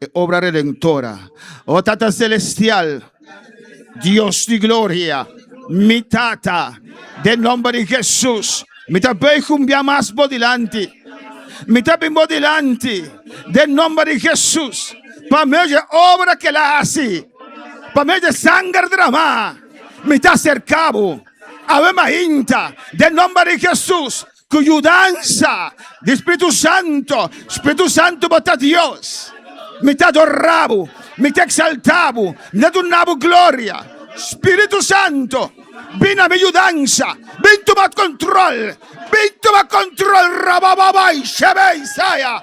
e obra redentora. O oh, Tata Celestial, Dios di gloria, mi Tata, de nombre di Jesus, mi ta bay cumbia mas por delante. Mi ta bin por delante, de nombre di Jesus, pa medio de obra que la hace, pa medio de sangre derramada, mi ta acercabo. Ave Mahinta, de nombre di Jesus, Ku yudansa di Spiritu Santu, Spiritu Santu bo ta Dios. Mi ta adora bo, mi ta eksaltá bo, mi ta duna bo gloria. Spiritu Santu, bin na mi yudansa, bin tuma kontrol, bin tuma kontrol, rabababay, shebey, saya.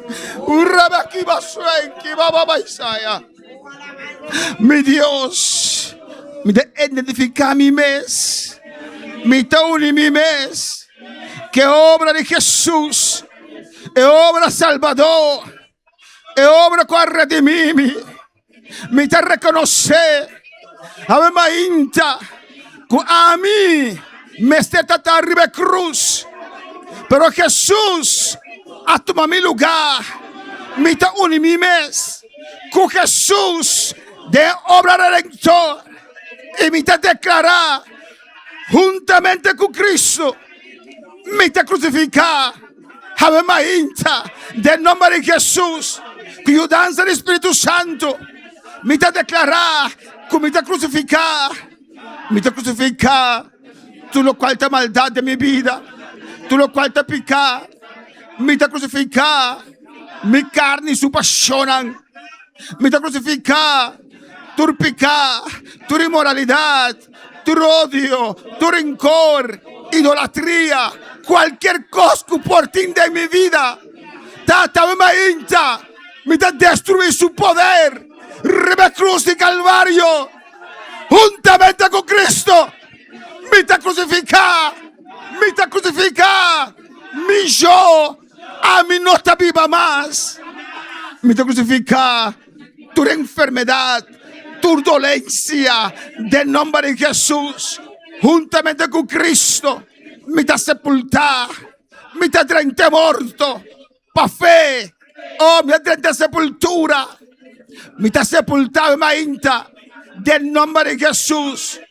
Ora mi a kiba sueñ, kiba bo Isaia. Mi Dios, mi ta identifiká mi mes, mi ta uni mi mes ku e obra di Hesus, e obra salbadó, e obra ku a redimí mi. Mi ta rekonosé ave mainta ku ami mester ta ta riba e krus, pero Hesus a tuma mi lugá. Mi ta uni mi mes ku Hesus den e obra redentor i mi ta deklará, Huntamente ku Kristu mi ta krusifiká. Hawe ma hincha den nomber di Hesus, ku yudansa di Spiritu Santu, mi ta deklará ku mi ta krusifiká, mi ta krusifiká tur lokual ta maldat den mi bida, tur lokual ta piká, mi ta krusifiká mi karni i su pashonnan, mi ta krusifiká tur piká, tur inmoralidat, tur odio, tur rencor, idolatria, cualkier cos cu por tin den mi vida, Tata, mi a hincha, mi ta destrui su poder riba e cruz di Calvario. Huntamente cu Cristo, mi ta crucifica, mi ta crucifica mi yo, ami no ta biba mas, mi ta crucifica. Tur enfermedad, tur dolencia, den nomber di Jesus, huntamente cu Cristo, mi ta sepulta, mi ta drente morto pa fe, oh, mi ta drente sepultura, mi ta sepulta mi mainta, den nomber di Jesus.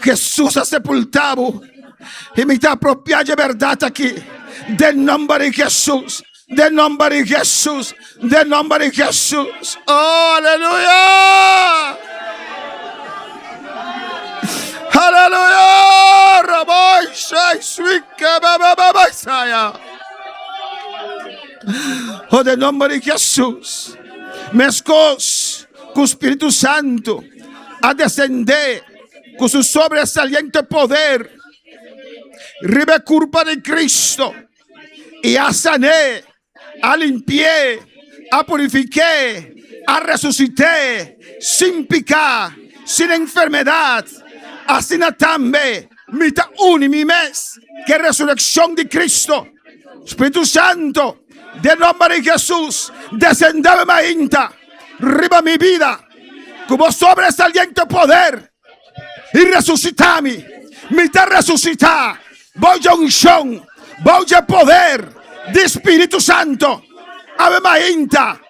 Jesús a sepultá bo y mi ta apropiá dje berdad aki den nomber di Jesús, den nomber di Jesús, den nomber di Jesús. Oh, aleluya! Aleluya! Raboy, shay, swike, bebebebe, saya. Oh, den nomber di Jesús. Meskos ku Spiritu Santo. a descendé cu su sobresaliente poder riba e curpa di Cristo y a sané, a limpié, a purifiqué, a resucit'é sin pica, sin enfermedad. Asina tambe mi ta uni mi mes cu e resureccion di Cristo. Spiritu Santo. Den nomber di Jesus desendel mainta riba mi bida cu bo sobresaliente poder y resucitami mi ta resucita bou dje uncion bou dje poder di spiritu santo awe mainta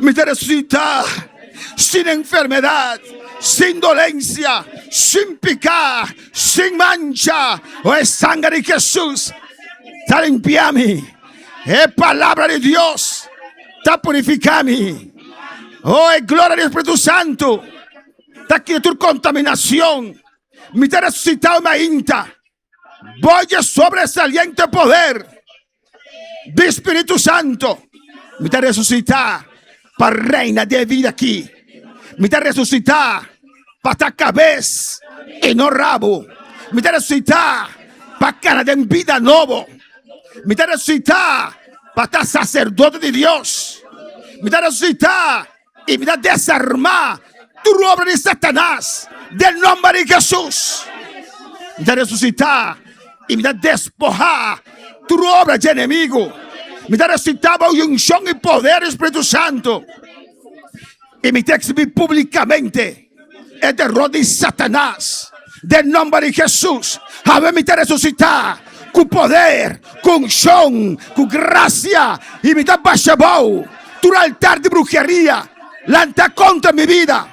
Mi ta resucita sin enfermedad, sin dolencia, sin peca, sin mancha, oh e sanger di Jesus ta limpia mi, e palabra di Dios ta purifica mi, oh e gloria di Espiritu Santo ta kita tur contaminacion. Mi ta resucitau mi ainta. Bo dje sobresaliente poder di Spiritu Santo. Mi ta resucita pa reina den e vida aki. Mi ta resucita pa ta cabes y no rabo. Mi ta resucita pa cana den bida nobo. Mi ta resucita pa ta sacerdote di Dios. Mi ta resucita I mi ta desarmá tur obra di Satanas den nomber di Hesus. Mi ta resusitá i mi ta despohá tur obra di enemigu. Mi ta resusitá bou e unshon i poder di Spiritu Santu. I mi ta eksibí publikamente. E derrot di Satanas den nomber di Hesus. Hawe mi ta resusita ku poder, ku unshon, ku grasia i mi ta basha bou tur altar di bruheria lanta kontra mi bida,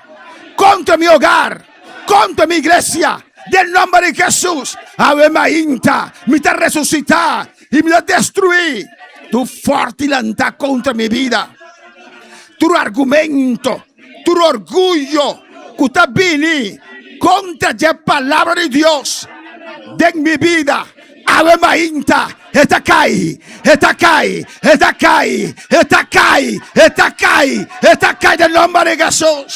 kontra mi ogar, kontra mi iglesia den nomber di Hesus. Hawe mainta mi ta resusita i mi ta destrui tur forti lanta kontra mi bida, tur argumento. Tur orguyo ku ta bini kontra dje palabra di Dios den mi bida, awe mainta e ta kai, e ta kai, e ta kai, e ta kai, e ta kai, e ta kai den nomber di Hesus.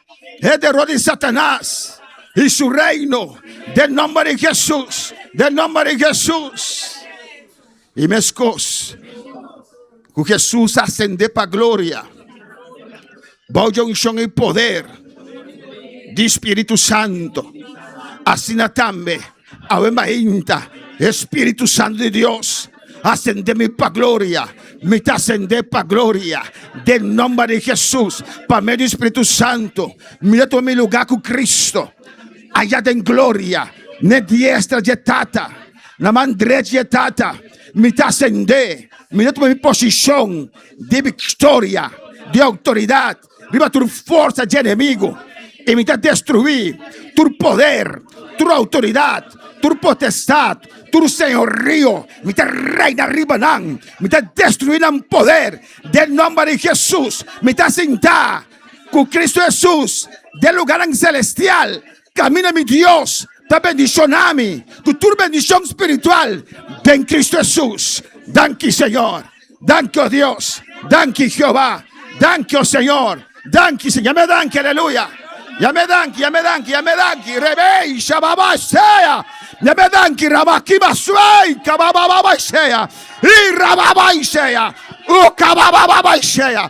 e derrota di Satanás y su reino de nombre de Jesús, de nombre de Jesús. Y mes cos cu Jesús ascende pa gloria, bajo de unción y poder di Espíritu Santo, asina tambe. Awe mainta e Spiritu Santu di Dios asende mi pa gloria, mi ta asende pa gloria den nomber di Jesus. Pa medio di Spiritu Santu mi ta tuma mi lugar cu Cristo aya den gloria, ne diestra dje Tata, na man drech dje Tata. Mi ta asende, mi ta tuma mi posicion di victoria, di autoridad. Riba tur forsa dje enemigu, i mi ta destruí tur poder, tur outoridat, tur potestat, tur señorio, mi ta reina riba nan, mi ta destruí nan poder den nomber di Hesus, mi ta sintá ku Kristu Hesus den lugánan selestial. Caminda mi Dios ta bendicionami cu tur bendicion spiritual den Cristo Jesus. Danki Señor. Danki oh Dios. Danki Jehová. Danki oh Señor. Danki Señor. Yame danki. Aleluya. Yame danki. Yame danki. Yame danki. Rebei shababa shea. Yame danki. Rabakiba swei. Kabababa shea. I rababa shea. U kabababa shea.